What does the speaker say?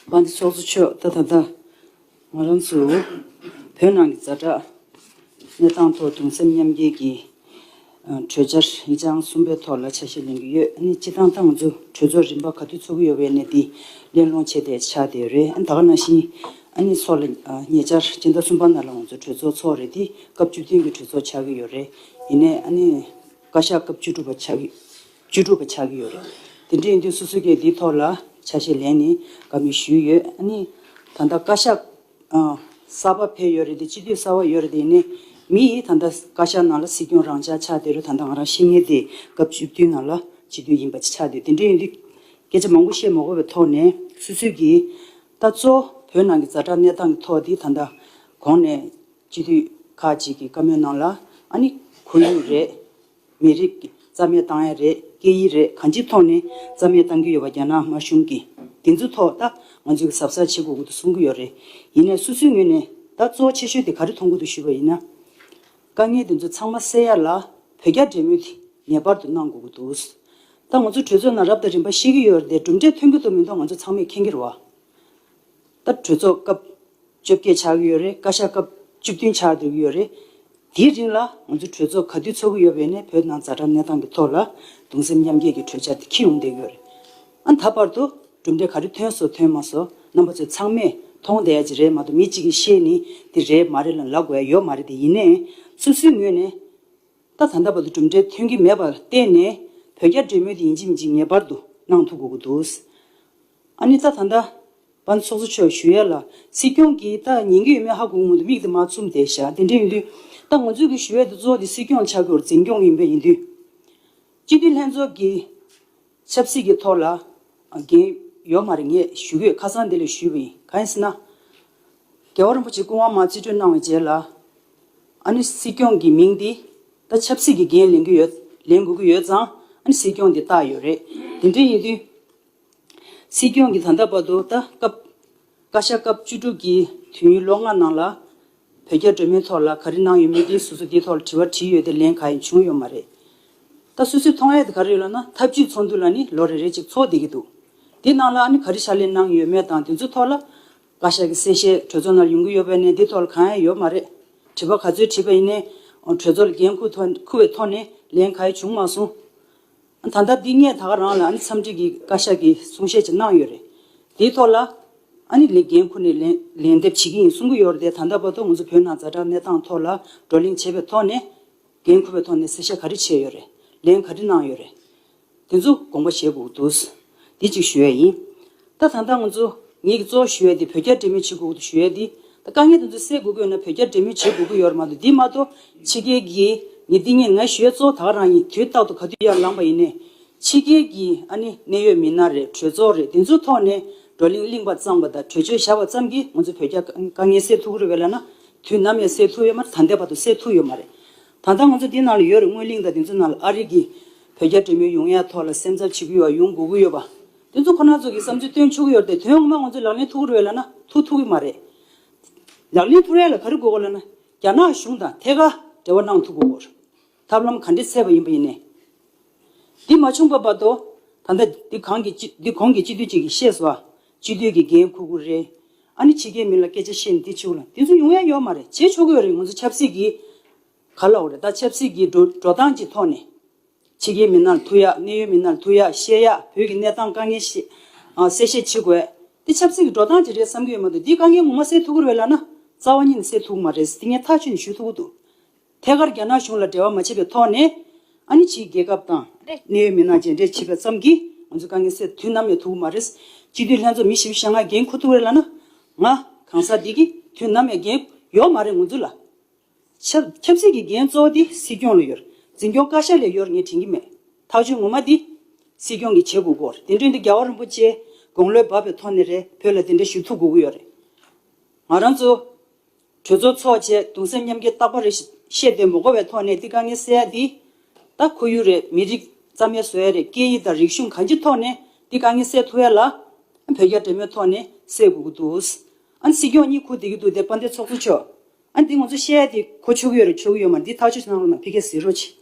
པ་འདི་ཚོགས་གཙོ་མཆོག་ད་ད་ལྟ་ང་རང་ཚོ་བོད་ནང་གི་རྫ་དྲག་གནས་སྟངས་ཐོག་གདུང་སེམས་མཉམ་སྐྱེད་ཀྱི་གྲོས་འཆར་ཡིག་ཆ་ཨང་གསུམ་པའི་ཐོག་ལ་ཆ་ཤས་ལེན་གྱི་ཡོད་གནས་སྤྱི་བཏང་ཏང་ཙུའུ་གྲོས་ཚོགས་རིམ་པ་ག་དུས་ཚོགས་ཀྱི་ཡོད་པའི་གནས་དེ་གླེང་སློང་བྱས་ཏེ་ཆ་དེ་རེད་ད་ག་ནང་བཞིན་གནས་ཚོགས་ལ་ཉེ་ཆར་སྤྱི་ཟླ་གསུམ་པ་ནང་ལ་ང་ཚོ་གྲོས་ཚོགས་ཚོགས་རེད་དེ་སྐབས་བཅུ་བདུན་གྱི་གྲོས་ཚོགས་ཆགས་ཀྱི་ཡོད་རེད་ཡིན་ནས་བཀའ་ཤག་སྐབས་བཅུ་དྲུག་པ་ཆགས་ཀྱི་བཅུ་དྲུག་པ་ཆགས་ཀྱི་ཡོད་རེད། དེ་འདྲའི་ཡིན་དུས་སོ་སོ་ཀྱིས་འདིའི་ཐོག་ལ་ཆ་ཤས་ལེན་ནས་དགའ་མོས་ཞུས་ཡོད། ཨ་ནི། ད་ལྟ་བཀའ་ཤག་གསར་པ་ཕེབས་ཡོད་རེད་དེ་སྤྱི་འཐུས་གསར་བ་ཡོད་རེད་དེ་ཡིན་ནའི་མི་ཡིས་ད་ལྟ་བཀའ་ཤག་ནང་ལ་སྲིད་སྐྱོང་རང་ཅག་ཆགས་བསྡད་རུ་ད་ལྟ་ང་རང་ཤེས་ངེས་དེ་སྐབས་བཅུ་བདུན་ནང་ལ་སྤྱི་འཐུས་ཡིན་པ་ཆགས་བསྡད་དེ་འདྲའི་ཡིན་དུས་སྐད་ཆ་མང་པོ་བཤད་མ་དགོས་པའི་ཐོག་ནས་སུད་སུད་ཀྱིས། ད་གཙོ་བོ་བོད་ནང་གི་རྫ་དྲག་གནས་སྟངས་ཀྱི་ཐོག་དེ་ད་ལྟ་གོང་ནས་སྤྱི་འཐུས་ཁག་ཅིག་གིས་བཀའ་མོལ་གནང་ལ། ཨ་ནི། ཁོར་ཡུག་རེད། མི་རིགས། རྩ་མེད་བཏང་ཡ་རེད། སྐད་ཡིག་རེད་གང་ཅིའི་ཐོག་ནས་རྩ་མེད་བཏང་གི་ཡོད་པ་རྒྱ་ནག་དམར་གཞུང་གིས་དེ་ཚོའི་ཐོག་ད་ང་ཚོས་གཟབ་གཟབ་བྱེད་དགོས་ཀྱི་འདུག་གསུང་གི་ཡོད་རེད། ཡིན་ནས་སོ་སོའི་ངོས་ནས་ད་གཙོ་བོ་ཆེ་ཤོས་དེ་ག་རེ་མཐོང་གི་འདུག་ཞུས་པ་ཡིན་ན། དཀའ་ངལ་དེ་ཚོ་ཚང་མ་སེལ་ཡ་ལ་བོད་རྒྱ་འབྲེལ་མོལ་དེ་ངེས་པར་དུ་གནང་དགོས་ཀྱི་འདུག། ད་ང་ཚོ་གྲོས་ཚོགས་ནང་རབ་དང་རིམ་པ་ཤེས་ཀྱི་ཡོད་རེད་གྲུབ་འབྲས་ཐོན་གྱི་འདུག་མི་འདུག་ང་ཚོ་ཚང་མས་མཁྱེན་གྱི་རེད། ལྟར་གྲོས་ཚོགས་སྐབས་བཅོ་བརྒྱད་ཆགས་ཀྱི་ཡོད་རེད་བཀའ་ཤག་སྐབས་བཅུ་བདུན་ཆགས་འདོད་ཀྱི་ཡོད་རེད། དེའི་རིང་ལ་ང་ཚོ་གྲོས་ཚོགས་ག་དུས་ཚོགས་ཀྱི་ཡོད་པའི་ནས་བོད་ནང་རྫ་དྲག་གནས་སྟངས་ཀྱི་ཐོག་ལ་གདུང་སེམས་མཉམ་སྐྱེད་ཀྱི་གྲོས་འཆར་དེ་འཁྱེར་ཡོང་བསྡད་ཡོད་རེད། ཨ་ད་བར་དུ་གྲུབ་འབྲས་ག་རེ་ཐོན་སོང་ཐོན་མ་སོང་རྣམ་པ་ཚོས་ཚང་མས་མཐོང་བསྡད་ཡ་ཅི་རེད་མ་གཏོགས་མི་གཅིག་གིས་ཤེས་ནི་འདི་རེད་མ་རེད་ལ་ལབ་དགོས་ཡ་ཡོད་མ་རེད་དེ་ཡིན་ནའི་སོ་སོའི་ངོས་ནས་ད་ད་ལྟ་བར་དུ་གྲུབ་འབྲས་ཐོན་གྱི་མེད་པ་ལ་བརྟེན་ནས་བོད་རྒྱ་འབྲེལ་མོལ་དེ་ཡིན་གཅིག་མིན་གཅིག་ངེས་པར་དུ་གནང་ཐུབ་དགོས་ཀྱི་འདུག་ཨ་ནི་ད་ད་འདྲ། བ་ཚོགས་གཙོ་མཆོག་ཞུ་ཡ་ལ། སྲིད་སྐྱོང་གིས་ད་ཉན་གི་ཡོད་མེད་ཧ་གོ་སྔོན་དུ་མིག་དེ་མ་བཙུམ་བསྡད་བཞག་དེ་འདྲ་ཡིན་དུས། ད་ང་ཚོས་གི་ཞུ་ཡ་དེ་གཙོ་དེ་སྲིད་སྐྱོང་ཆགས་སྒོར་འཛིན་སྐྱོང་ཡིན་པ་ཡིན་དུས། སྤྱི་འཐུས་ལྷན་ཚོགས་ཀྱི། ཆབ་སྲིད་ཀྱི་ཐོག་ལ། འགན། ཡོད་མ་རེད་ངས་ཞུ་གོས་ཁ་སང་དེ་ལས་ཞུས་པ་ཡིན་ག་ཡིན་ཟེར་ན། རྒྱལ་བ་རིན་པོ་ཆེ་སྐུ་དབང་མ་རྩིས་སྤྲོད་གནང་བའི་རྗེས་ལ། ཨ་ནི་སྲིད་སྐྱོང་གི་མིང་འདི། ད་ཆབ་སྲིད་ཀྱི་འགན་ལེན་གི་ཡོད་ལེན་དགོས་གི་ཡོད་ཙང་ཨ་ནི་སྲིད་སྐྱོང་དེ་བཏགས་ཡོད་རེད་དེ་འདྲ་ཡིན་དུས། སྲིད་སྐྱོང་གིས་ད་ལྟ་བར་དུ་ད་སྐབས། བཀའ་ཤག་སྐབས་བཅུ་དྲུག་གི་དུས་ཡུན་ལོ་ལྔ་ནང་ལ། བོད་རྒྱ་འབྲེལ་མོལ་ཐོག་ལ་ག་རེ་གནང་ཡོད་མེད་འདི་སོ་སོ་འདིའི་ཐོག་ལ་དྲི་བ་དྲིས་ཡོད་དེ་ལན་ག་ཡང་བྱུང་ཡོད་མ་རེད། ད་སུད་སུད་ཐོང་ཡ་དེ་ག་རེ་ཡོད་ལབ་ན་ཐབས་བྱུས་ཚོགས་འདུ་ལ་ནི་ལོ་རེ་རེ་གཅིག་ཚོགས་བསྡད་ཀྱི་འདུག་དེ་ནང་ལ་ཨ་ནི་ག་རེ་ཕྱག་ལས་གནང་ཡོད་མེད་དང་དེ་ཚོའི་ཐོག་ལ། བཀའ་ཤག་གི་གསལ་བཤད་གྲོས་ཚོགས་ནང་ལ་ཡོང་གི་ཡོད་པ་ནས་འདི་ཐོག་ལ་གང་ཡང་ཡོད་མ་རེད། དྲི་བ་ག་ཚོད་དྲིས་པ་ཡིན་ནའི། གྲོས་ཚོགས་ལ་འགན་ཁུར་བའི་ཐོག་ནས་ལན་ག་ཡང་བྱུང་མ་སོང། ད་ལྟ་འདི་ངས་ད་ག་རང་ལ་འཚམས་འདྲི་གི་བཀའ་ཤག་གི་གསུང་བཤད་ཅིག་གནང་ཡོད་རེད། དེའི་ཐོག་ལ། ཨཱ་ནི་ལེ་རྒན་ཁོ་ནས་ལན་འདེབས་བྱེད་ཀྱི་ཡིན་གསུང་གི་ཡོད་རེད་དེ་ད་ལྟ་བར་དུ་ང་ཚོ་བོད་ནང་རྫ་དྲག་གནས་སྟངས་ཐོག་ལ་བགྲོ་གླེང་བྱས་པའི་ཐོག་ནས། རྒན་ཁོ་པའི་ཐོག་ནས་གསལ་བཤད་ག་རེ་བྱས་ཡོད་རེད། ལན་ག་རེ་གནང་ཡོད་རེད། དེ་ཚོ་དགོངས་པ་བཞེས་དགོས་ཀྱི་འདུག། འདི་ཅིག་ཞུ་ཡས་ཡིན། ད་ད་ལྟ་ང་ཚོ་ངེད་ཀྱི་གཙོ་བོ་ཞུ་ཡས་འདི་བོད་རྒྱ་འབྲེལ་མོལ་བྱེད་དགོས་ཀྱི་ཞུ་ཡས་འདི་ད་དཀའ་ངལ་དེ་ཚོ་སེལ་དགོས་དགོས་ན་བོད་རྒྱ་འབྲེལ་མོལ་བྱེད་དགོས་ཀྱི་ཡོད་རེད་མ་གཏོགས་འདི་མ་གཏོགས་ཕྱི་རྒྱལ་གྱི་ནི་འདི་ངེད་ང་ཞུ་ཡས་གཙོ་བོ་དག་རང་ཡིན་དུས་རྟག་ཏུ་ག་དུས་ཡར་ལངས་པ་ཡིན་ནས། ཕྱི་རྒྱལ་གྱི་ཨ་ནི་གནད་ཡོད་མི་སྣ་རེད་གྲོས་ཚོགས་རེད་འདི་ཚོའི་ཐོག་ནས་བགྲོ་གླེང་གླིང་བ་གཙང་བ་དང་གྲོས་ཆོད་བཞག་པ་ཙམ་གྱིས་ང་ཚོ་བོད་རྒྱ་དཀའ་ངལ་སེལ་ཐུག་གི་རེད་བས་ལ་ན་དུས་ནམ་ཡང་སེལ་ཐུག་ཡོད་མ་རེད་ད་ལྟའི་བར་དུ་སེལ་ཐུག་ཡོད་མ་རེད། ད་ལྟ་ང་ཚོ་འདི་ན་ལ་ཡོད་རེད་སྔོན་གླིང་དང་དེ་ཚོའི་ནང་ལ་ཨ་རིག་གིས་བོད་རྒྱ་འབྲེལ་མོལ་ཡོང་ཡ་ཐོག་ལ་སེམས་འཚབ་ཆེ་གི་ཡོད་པ་ཡོང་དགོས་གི་ཡོད་པ། དེ་ཚོ་ཁོ་ན་ཚོ་གི་བསམ་ཚུལ་བཏོན་ཆོག་གི་ཡོད་རེད་དེ་དོན་ངོ་མ་ང་ཚོ་ལག་ལེན་ཐུག་གི་རེད་ལ་ན་ཐུག་ཐུག་གི་མ་རེད། ལག་ལེན་ཐུག་རན་ལ་ག་རེ་དགོས་གོ་ལ་ན་རྒྱ་ནག་གཞུང་དང་ཐད་ཀར་འབྲེལ་བ་གནང་ཐུག་གི་འོར་ཐབས་ལམ་ག་འདྲེ་ཚད་པ་ཡིན་པ་ཡིན་ནས། འདི་མ་བྱུང་པ་བར་དོ། ད་ལྟ་འདི་གང་གི་འདི་གོང་གི་སྤྱི་འཐུས་གཅིག་གིས་ཤེས་བ། སྤྱི་འཐུས་ཀྱི་འགན་ཁུར་ཁུར་རེད། ཨ་ནི་ཕྱི་རྒྱལ་མི་ལ་སྐད་ཆ་བཤད་ནི་དེ་ཆོག་ལ་དེ་ཚོ་ཡོང་ཡ་ཡོད་མ་རེད་བྱེད་ཆོག་གི་ཡོད་རེད་ང་ཚོ་ཆབ་སྲིད་ཀྱི་ག་ལ་འོ་རེད་ད་ཆབ་སྲིད་ཀྱི་འགྲོ་འགྲོ་སྟངས་ཀྱི་ཐོག་ནས། ཕྱི་རྒྱལ་མི་སྣར་ཐུག་ཡ་གནད་ཡོད་མི་སྣར་ཐུག་ཡ་བཤད་ཡ་བོད་ཀྱི་གནས་སྟངས་དཀའ་ངལ་བཤད་གསལ་བཤད་བྱེད་དགོས་དེ་ཆབ་སྲིད་ཀྱི་འགྲོ་སྟངས་ཀྱི་རེད་བསམ་གྱི་ཡོད་མ་འདུག་འདིའི་དཀའ་ངལ་ངོ་མ་སེལ་ཐུག་གི་རེད་ལ་ན་རྩ་བ་ཉིད་ནས་སེལ་ཐུག་གི་མ་རེད་དེ་ངས་ཐག་ཆོད་ནས་ཞུ་ཐུག་གི་འདུག་ཐད་ཀར་རྒྱ་ནག་གཞུང་ལ་འབྲེལ་བ་མ་བྱས་པའི་ཐོག་ནས། ཨ་ནི་ཕྱིའི་རྒྱལ་ཁབ་དང། གནད་ཡོད་མི་སྣ་རྗེས་འབྲེལ་བྱེད་པ་ཙམ་གྱིས་ང་ཚོའི་དཀའ་ངལ་སེལ་དུས་ནམ་ཡང་ཐུག་གི་མ་རེད། སྤྱི་འཐུས་ལྷན་ཚོགས་མི་བཞི་བཞི་ལྔ་འགན་འཁུར་ཐུག་རེད་ལ་ན། ང། གང་ཟག་སྡེ་གིས་དུས་ནམ་ཡང་འགན་ཡོག་མ་རེད་ངོ་འཛུལ་ལ། ཆབ། ཆབ་སྲིད་ཀྱི་འགན་གཙོ་བོ་དེ་སྲིད་སྐྱོང་ལ་ཡོད། འཛིན་སྐྱོང་བཀའ་ཤག་ལས་ཡོར་ངས་དྲན་གྱི་མེད། ཐག་གཅོད་ངོ་མ་དེ། སྲིད་སྐྱོང་གིས་བྱེད་དགོས་གོ་རེད་དེ་འདྲོན་དེ་རྒྱ་བ་རིན་པོ་ཆེ། དགོང་ལོས་བབ་པའི་ཐོག་ནས་རེད་བོད་ལ་དེ་འདྲ་ཞུ་ཐུག་དགོས་གི་ཡོད་རེད། ང་རང་ཚོ། གྲོས་ཚོགས་འཚོགས་བཅས་གདུང་སེམས་མཉམ་སྐྱེ་རྟག་པ་རེ་བཤད་དེ་མོ་གོ་བའི་ཐོག་ནས་ཏི་ཀ་ནི་སེ་ཡ་འདི་ད་ཁོ་ཡུ་རེད་མི་རིགས་རྩ་མེད་བཟོ་ཡ་རེད་སྐད་ཡིག་དང་རིག་གཞུང་གང་ཅི་ཐོག་ནས་ཏི་ཀ་ནི་སེ་ཐུ་ཡ་ལ་བོད་རྒྱ་འབྲེལ་མོལ་ཐོག་ནས་སེ་དགོས་ཀྱི་འདུག་ཨ་སྲིད་སྐྱོང་གཉིས་ཁུག་དེ་གི་འདུག་དེ་དཔའ་འདེ་ཚོགས་གཙོ་མཆོག་ཨ་འདི་ངོ་ཚོ་བཤད་ཡ་དེ་ཁོ་ཆོ་གི་ཡོད་རེད་ཆོ་གི་ཡོད་མ་འདི་ཐག་ཆོད་ཆོད་གནང་རོགས་གནང་ཕི་ཁེ་ཟིར་རོ་ཆེ།